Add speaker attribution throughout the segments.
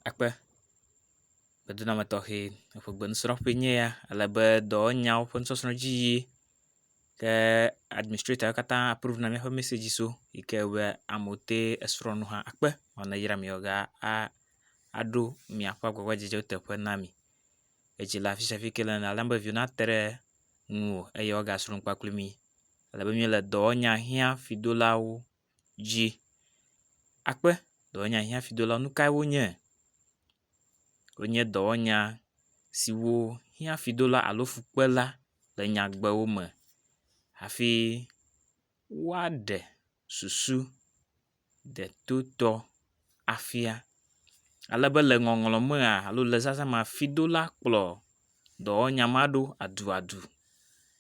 Speaker 1: akpe dedinɔnɔ tɔxɛ eƒe gbenusrɔƒe enye ya ale be dɔwɔnyawo ƒe nusɔsrɔ̃ dzi yi yim ke administratɔwo katã apruvu na míaƒe mɛsɛdzi so yi ke be amewo te esrɔ̃ nu hã akpe vɔ ne eyram yewo ge a aɖo miaƒe agbagbadzedze teƒe na mi. Edzi le afi sia afi yi ke le nane alebe viwo nate ɖe ŋuwò eye woagasrɔ̃ nu kpakple mi ale be míele dɔwɔnya hiã fidolawo. dzi akpe dɔwɔnya si hafi do la nu kae wonye? Wonye dɔwɔnya siwo hiã fi do la alo fu kpe la le nyagbewo me hafi woaɖe susu detotɔ. afia. Ale be le ŋɔŋlɔ mea alo le zazã mea fidola kplɔ dɔwɔnya ma ɖo aduadu.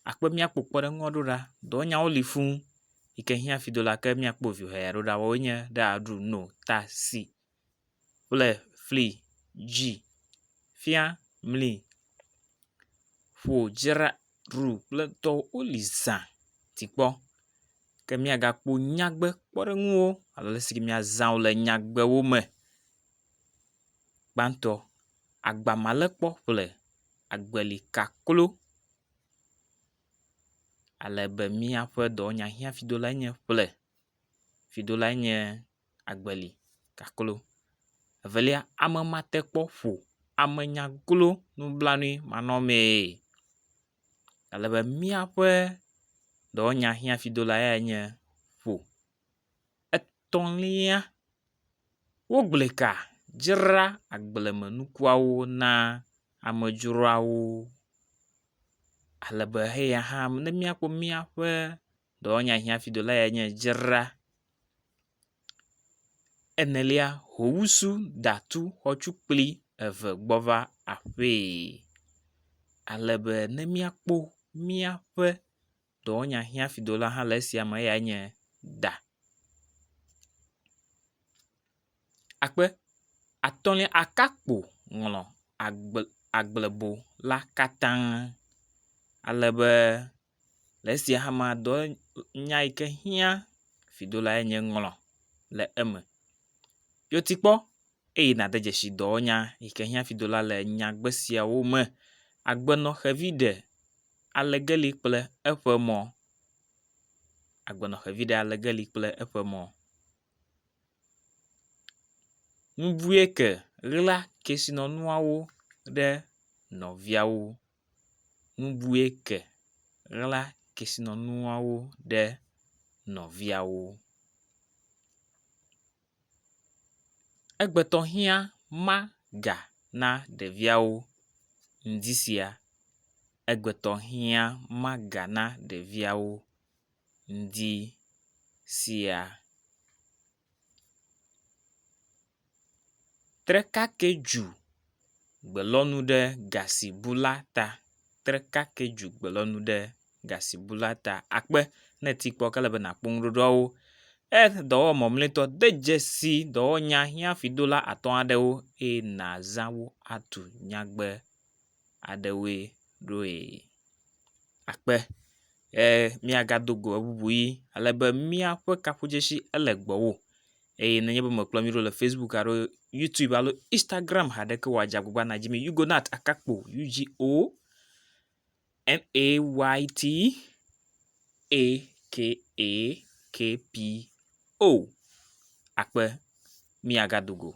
Speaker 1: Akpɔ be míakpɔ kpɔɖeŋu aɖewo ɖa. Dɔwɔnyawo li fũ yi ke hiã fidola ke míakpɔ viwɔe aɖewo ɖa woawoe nye ɖa, dro, no, ta, si kple fli, dzi, fia, mli. ƒo dzra ɖu kple tɔwo woli zã ti kpɔ ke miagakpɔ nyagbe kpɔɖeŋuwo alo le si miazã wo le nyagbewo me. Gbãtɔ agba ma le kpɔ ƒle agbeli kaklo ale be miaƒe dɔwɔnya hiã fido lae nye ƒle. Fiɖolae nye Agbeli kaklo. Evelia, ame mate kpɔ ƒo ame nyaglo nublanuimanɔmee. Ale be míaƒe dɔwɔnyahiãfiɖola yae nye ƒo. Etɔ̃lia, wogblɔe ka dzra agblemenukuawo na amedzroawo ale be heya hã ne míakpɔ míaƒe. Dɔwɔnya hiãfidola yae nye dzra. Enelia, howusu datu xɔtu kpli eve gbɔ va aƒee ale be ne míakpɔ míaƒe dɔwɔnya hiãfidola hã le esia me eyae nye da. Akpe atɔ̃lia akakpo ŋlɔ agble agblebo la katã ale be. Le esia hamea dɔ nya yi ke hiã fidolae nye ŋlɔ le eme. Yɔ ti kpɔ eye nàde dzesi dɔwɔnya yi ke hiã fidola le nyagbe siawo me. Agbenɔ xevi ɖe ale geli kple eƒe mɔ. Agbenɔ xevi ɖe ale geli kple eƒe mɔ. Nubuieke ɣla kesinɔnuawo ɖe nɔviawo. nubue ke ɣla kesinɔnuawo ɖe nɔviawo. Egbetɔ hiã ma ga na ɖeviawo ŋdi sia. Egbetɔ hiã ma ga na ɖeviawo ŋdi sia. Trekake dzu gbelɔnu ɖe gasibula ta. Trekake dzu gbelɔnu ɖe gasibula ta. Akpe ne èti kpɔ ke ele be nàkpɔ nuɖoɖoawo. Earth dɔwɔmɔ̃mletɔ, de dzesi dɔwɔnyahiãfidola atɔ̃ aɖewo eye nàzã wo atu nyagbe. aɖewoe ɖoe akpe be míagado go eŋuŋu ʋi ale be míaƒe kafudzesi ele gbɔwò eye nenye be mèkpɔm nyuie ɖe o le Facebook alo Youtube alo Instagram haɖeke o la, dze agbagba nàdzi mí Yugonat Akakpo U-G-O-N-A-Y-T A-K-A-K-P-O. Akpe, míagado go.